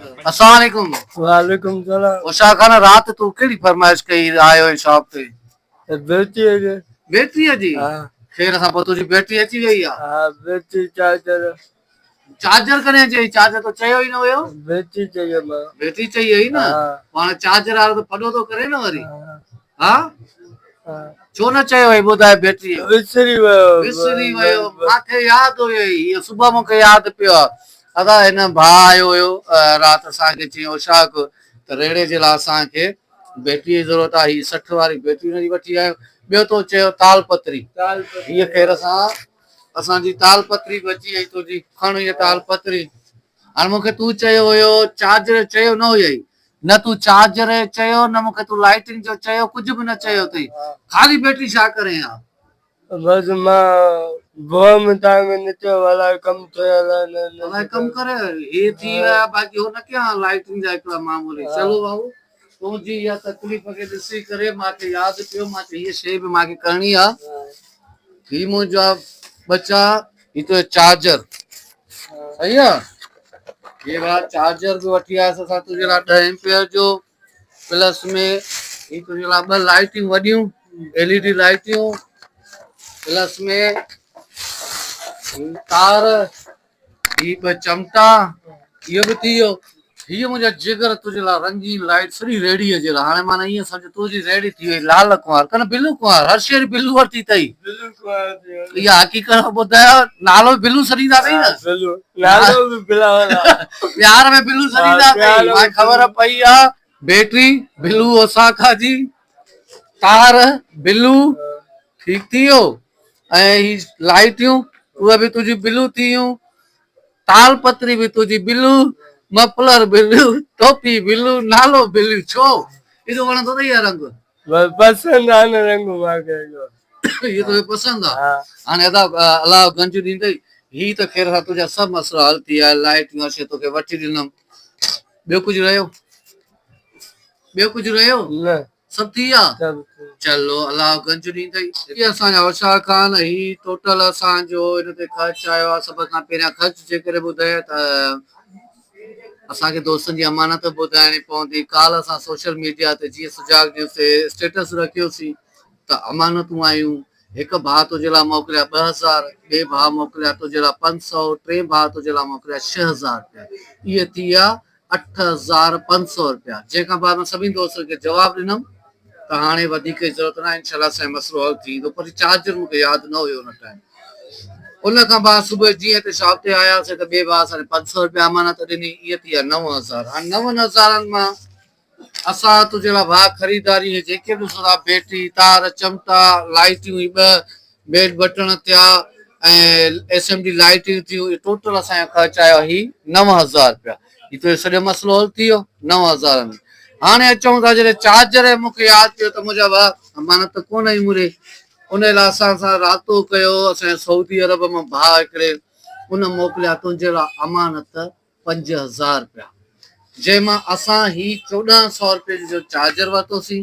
السلام عليڪم وعليڪم السلام اوشا خان رات تو ڪهڙي فرمائش ڪئي آيو هي شاپ تي بيٽي جي بيٽي جي ها خير سان پوء تنهنجي بيٽي اچي وئي آ ها بيٽي چارجر چارجر ڪڏهن چئي چارجر تو چيو ئي نه هيو بيٽي چيو ما بيٽي چئي هئي نه هاڻي چارجر وارو ته ڦڏو ٿو ڪري نه وري ها ڇو نه چيو هي ٻڌاء بيٽي وسري ويو وسري ويو ماکي ياد هيئي هي صبح مونکي ياد پيو آ ادا هن ڀاء آيو هيو رات اسان کي چين اوشاق ته ريڙهي جي لا اسان کي بيٽري جي ضرورت آ هي سٺ واري بيٽري هن جي وٺي آيو ٻيو تو چيو تال پتري هي خير سان اسان جي تال پتري به اچي وئي تنهنجي کڻ هي تال پتري هاڻ مون کي تون چيو هيو چارجر چيو نه هيئي نه تون چارجر چيو نه مون کي تون لائٽنگ جو چيو ڪجهه به نه چيو اٿئي خالي بيٽري ڇا ڪرين ها بس مان بوء ۾ تان ۾ نڪريو هو الاء ڪم ٿئي الاء نه نه الاء ڪم ڪري هي ٿي ويا باقي هو نه ڪيا لائٽنگ جا هڪڙا معمولي چلو بابو تنهنجي اها تڪليف کي ڏسي ڪري مان کي ياد پيو مان کي هي شي به مان کي ڪرڻي آ هي منهنجا ٻچا هي تو چارجر صحيح آ هي وا چارجر به وٺي آيس اسان تنهنجي لا 10 ايمپيئر جو پلس ۾ هي تنهنجي لاء ٻه لائيٽيون وڏيون ايل اي ڊي لائيٽيون پلس ۾ تار هي ٻه چمٽا اهو به ٿي ويو هي منهنجا جگر تنهنجي لاء رنگين لائيٽ سڄي ريڙي جي لاء هاڻي معنی ائين سمجھ تنهنجي ريڙي ٿي وئي لال ڪنوار ڪن بلو ڪنوار هر شهر بلو ورتي اٿئي اها حقيقت ٻڌايا نالو بلو سڏيندا اٿئي نه پيار ۾ بلو سڏيندا ڪئي ماکي خبر پئي آ بيٽري بلو اوساڪا جي تار بلو ٺيڪ ٿي ويو ۽ هي لائيٽيون اهي به تنهنجي بلو ٿي ويون تال پتري به تنهنجي بلو مفلر بلو ٽوپي بلو نالو بلو ڇو اهو وڻندو اٿئي اهي رنگ بس پسند آ نه رنگ ماکي جو هي تو پسند آ هاڻي ادا الله گنج ڏيندئي هي ته خير سا تنهنجا سڀ مسئلا حل ٿي آيا لائٽ يا شي توکي وٺي ڏنم ٻيو ڪجهه رهيو ٻيو ڪجهه رهيو نه سڀ ٿي ويا چلو الله گنج ڏيندئي هي اسان جا هوشيار خان هي ٽوٽل اسان جو ان تي خرچ آيو آ سڀ کان پهريان خرچ جيڪڏهن ٻڌايان ته اسان کي دوستن جي امانت ٻڌائڻي پوندي، ڪالهه اسان سوشل ميڊيا تي جيئن سجاڳ نيوز تي اسٽيٽس رکيوسين ته امانتون آيون، هڪ ڀاء تنهنجي لاء موڪليا ٻه هزار، ٻئي ڀاء موڪليا تنهنجي لاء پنج سؤ، ٽئين ڀاء تنهنجي لاء موڪليا ڇهه هزار رپيا، اهي ٿي ويا اٺ هزار پنج سؤ رپيا، جنهن کان بعد مان سڀني دوستن کي جواب ڏنم. ته هاڻي وڌيڪ ڪي ضرورت ناهي انشاء الله سائين مسئلو حل ٿي ويندو پر چارجر مون کي ياد نه هيو ان ٽائيم ان کان بعد صبح جيئن هتي شاپ تي آياسين ته ٻئي ڀاء اسان کي پنج سؤ روپيا امانت ڏني اهي ٿي ويا نو هزار هاڻي نون هزارن مان اسان تو جهڙا ڀاء خريداري هي جيڪي به ڏسو ٿا بيٽري تار چمٽا لائيٽيون هي ٻه بيڊ بٽڻ ٿيا ۽ ايس ايم ڊي لائيٽيون ٿيون ٽوٽل اسان جو خرچ آيو هي نو هزار روپيا هي تنهنجو سڄو مسئلو حل ٿي ويو نو هزار ۾. هاڻي اچون ٿا جڏهن چارجر ۽ مون کي ياد پيو ته منهنجا وهه امانت ته ڪونه هئي موري انهي لاء اسان سان راتو ڪيو اسان جي سعودي عرب مان ڀاء هڪڙي ان موڪليا تنهنجي لاء امانت پنج هزار رپيا جنهن مان اسان هي چوڏهن سئو رپين جو چارجر ورتوسين.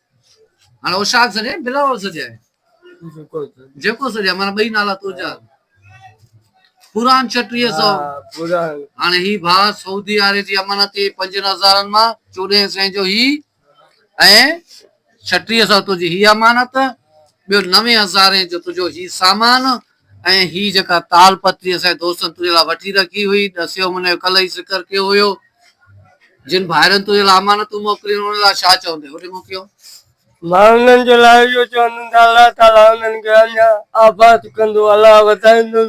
هاڻ اوشاق سڏجي يا بلاول سڏجي جيڪو سڏجي مانا ٻئي نالا ترجا پوران ڇٽيهه سو هاڻي هي ڀاء سعودي عرب جي امانت جي پنجن هزارن مان چوڏهن سين جو هي ۽ ڇٽيهه سو تنهنجي هي امانت ٻيو نوي هزارين جو تنهنجو هي سامان ۽ هي جيڪا تال پتري اسان جي دوستن تنهنجي لاء وٺي رکي هئي، ڏسيو منهن جو ڪلهه ئي ذڪر ڪيو هيو، جن ڀائرن تنهنجي لاء امانتون موڪليون، انهن لاء ڇا چوندين؟ هن موڪيو. مان انهن جي لاء اهو چوندم ته الله تعاليٰ انهن کي اڃا آباد ڪندو، الله وڌائيندن،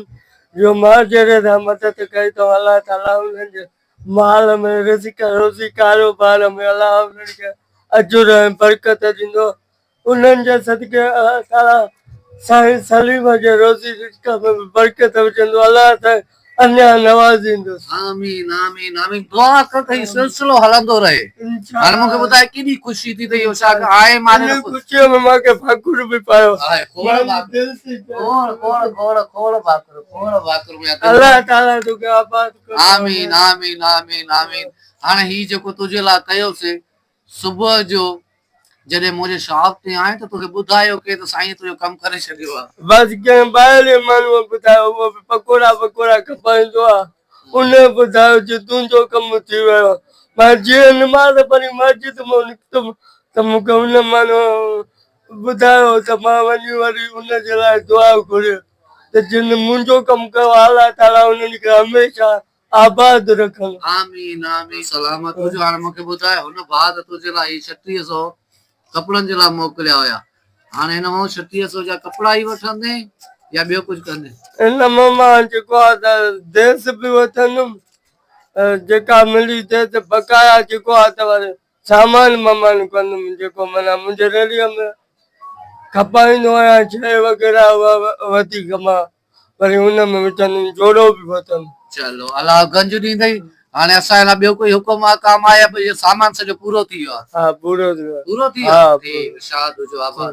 جو مان جهڙي سان مدد ڪئي اٿم، الله تعاليٰ انهن جي مال ۾، رزق، روزي، ڪاروبار ۾، الله انهن کي اجر ۽ برڪت ڏيندو، انهن جي صدقي الله تعاليٰ سائين سليم جي روزي رزق ۾ به برڪت وجهندو الله سائين اڃا نوازيندس. آمين آمين آمين دعا ڪر ته هي سلسلو هلندو رهي هاڻي مون کي ٻڌاء ڪيڏي خوشي ٿي ته اهو شاگرد آء ايم آر انهي خوشيء ۾ مان کي ڀاڪر به پايو مانجي دل ٿي چوي کوڙ کوڙ کوڙ کوڙ ڀاڪر کوڙ ڀاڪر ميان دل الله تعاليٰ توکي آباد ڪري آمين آمين آمين آمين هاڻي هي جيڪو تنهنجي لاء ڪيوسين صبح جو جڏهن منهنجي شاپ تي آئين ته توکي ٻڌايو ڪي ته سائينء تنهنجو ڪم ڪري ڇڏيو آ. بس ڪنهن ٻاهرين ماڻهوء ٻڌايو اهو به پڪوڙا وڪوڙا کپائيندو آ. ان ٻڌايو جو تنهنجو ڪم ٿي ويو آ. مان جيئن نماز پڙهي مسجد مان نڪتم ته مون کي ان ماڻهوء ٻڌايو ته مان وڃي وري ان جي لاء دعا گهري ته جن منهنجو ڪم ڪيو آ الله تعاليٰ انهن کي هميشه آباد رکن. آمين آمين سلامت هج هاڻي مونکي ٻڌاء هن ڀاء ته تنهنجي لاء هي ڇٽيهه سو ڪپڙن جي لاء موڪليا هيا هاڻي هن مان ڇٽيهه سو جا ڪپڙا ئي وٺندين يا ٻيو ڪجهه ڪندين. ان مان مان جيڪو آ ته ديس به وٺندم جيڪا ملي ديس بقايا جيڪو آ ته وري سامان ممان ڪندم جيڪو معنيٰ منهنجي ريڙهيء ۾ کپائيندو آهيان شيء وغيره اها وڌيڪ مان وري ان ۾ وچن ۾ جوڙو به پھتل. چلو الله گنج ڏيندئي. هاڻي اسان لاء ٻيو ڪوئي حڪم آ ڪام آ يا اهو سامان سڄو پورو ٿي ويو آ. ها پورو ٿي ويو آ. پورو ٿي ويو آ. ٺيڪ ارشاد هجو آباد.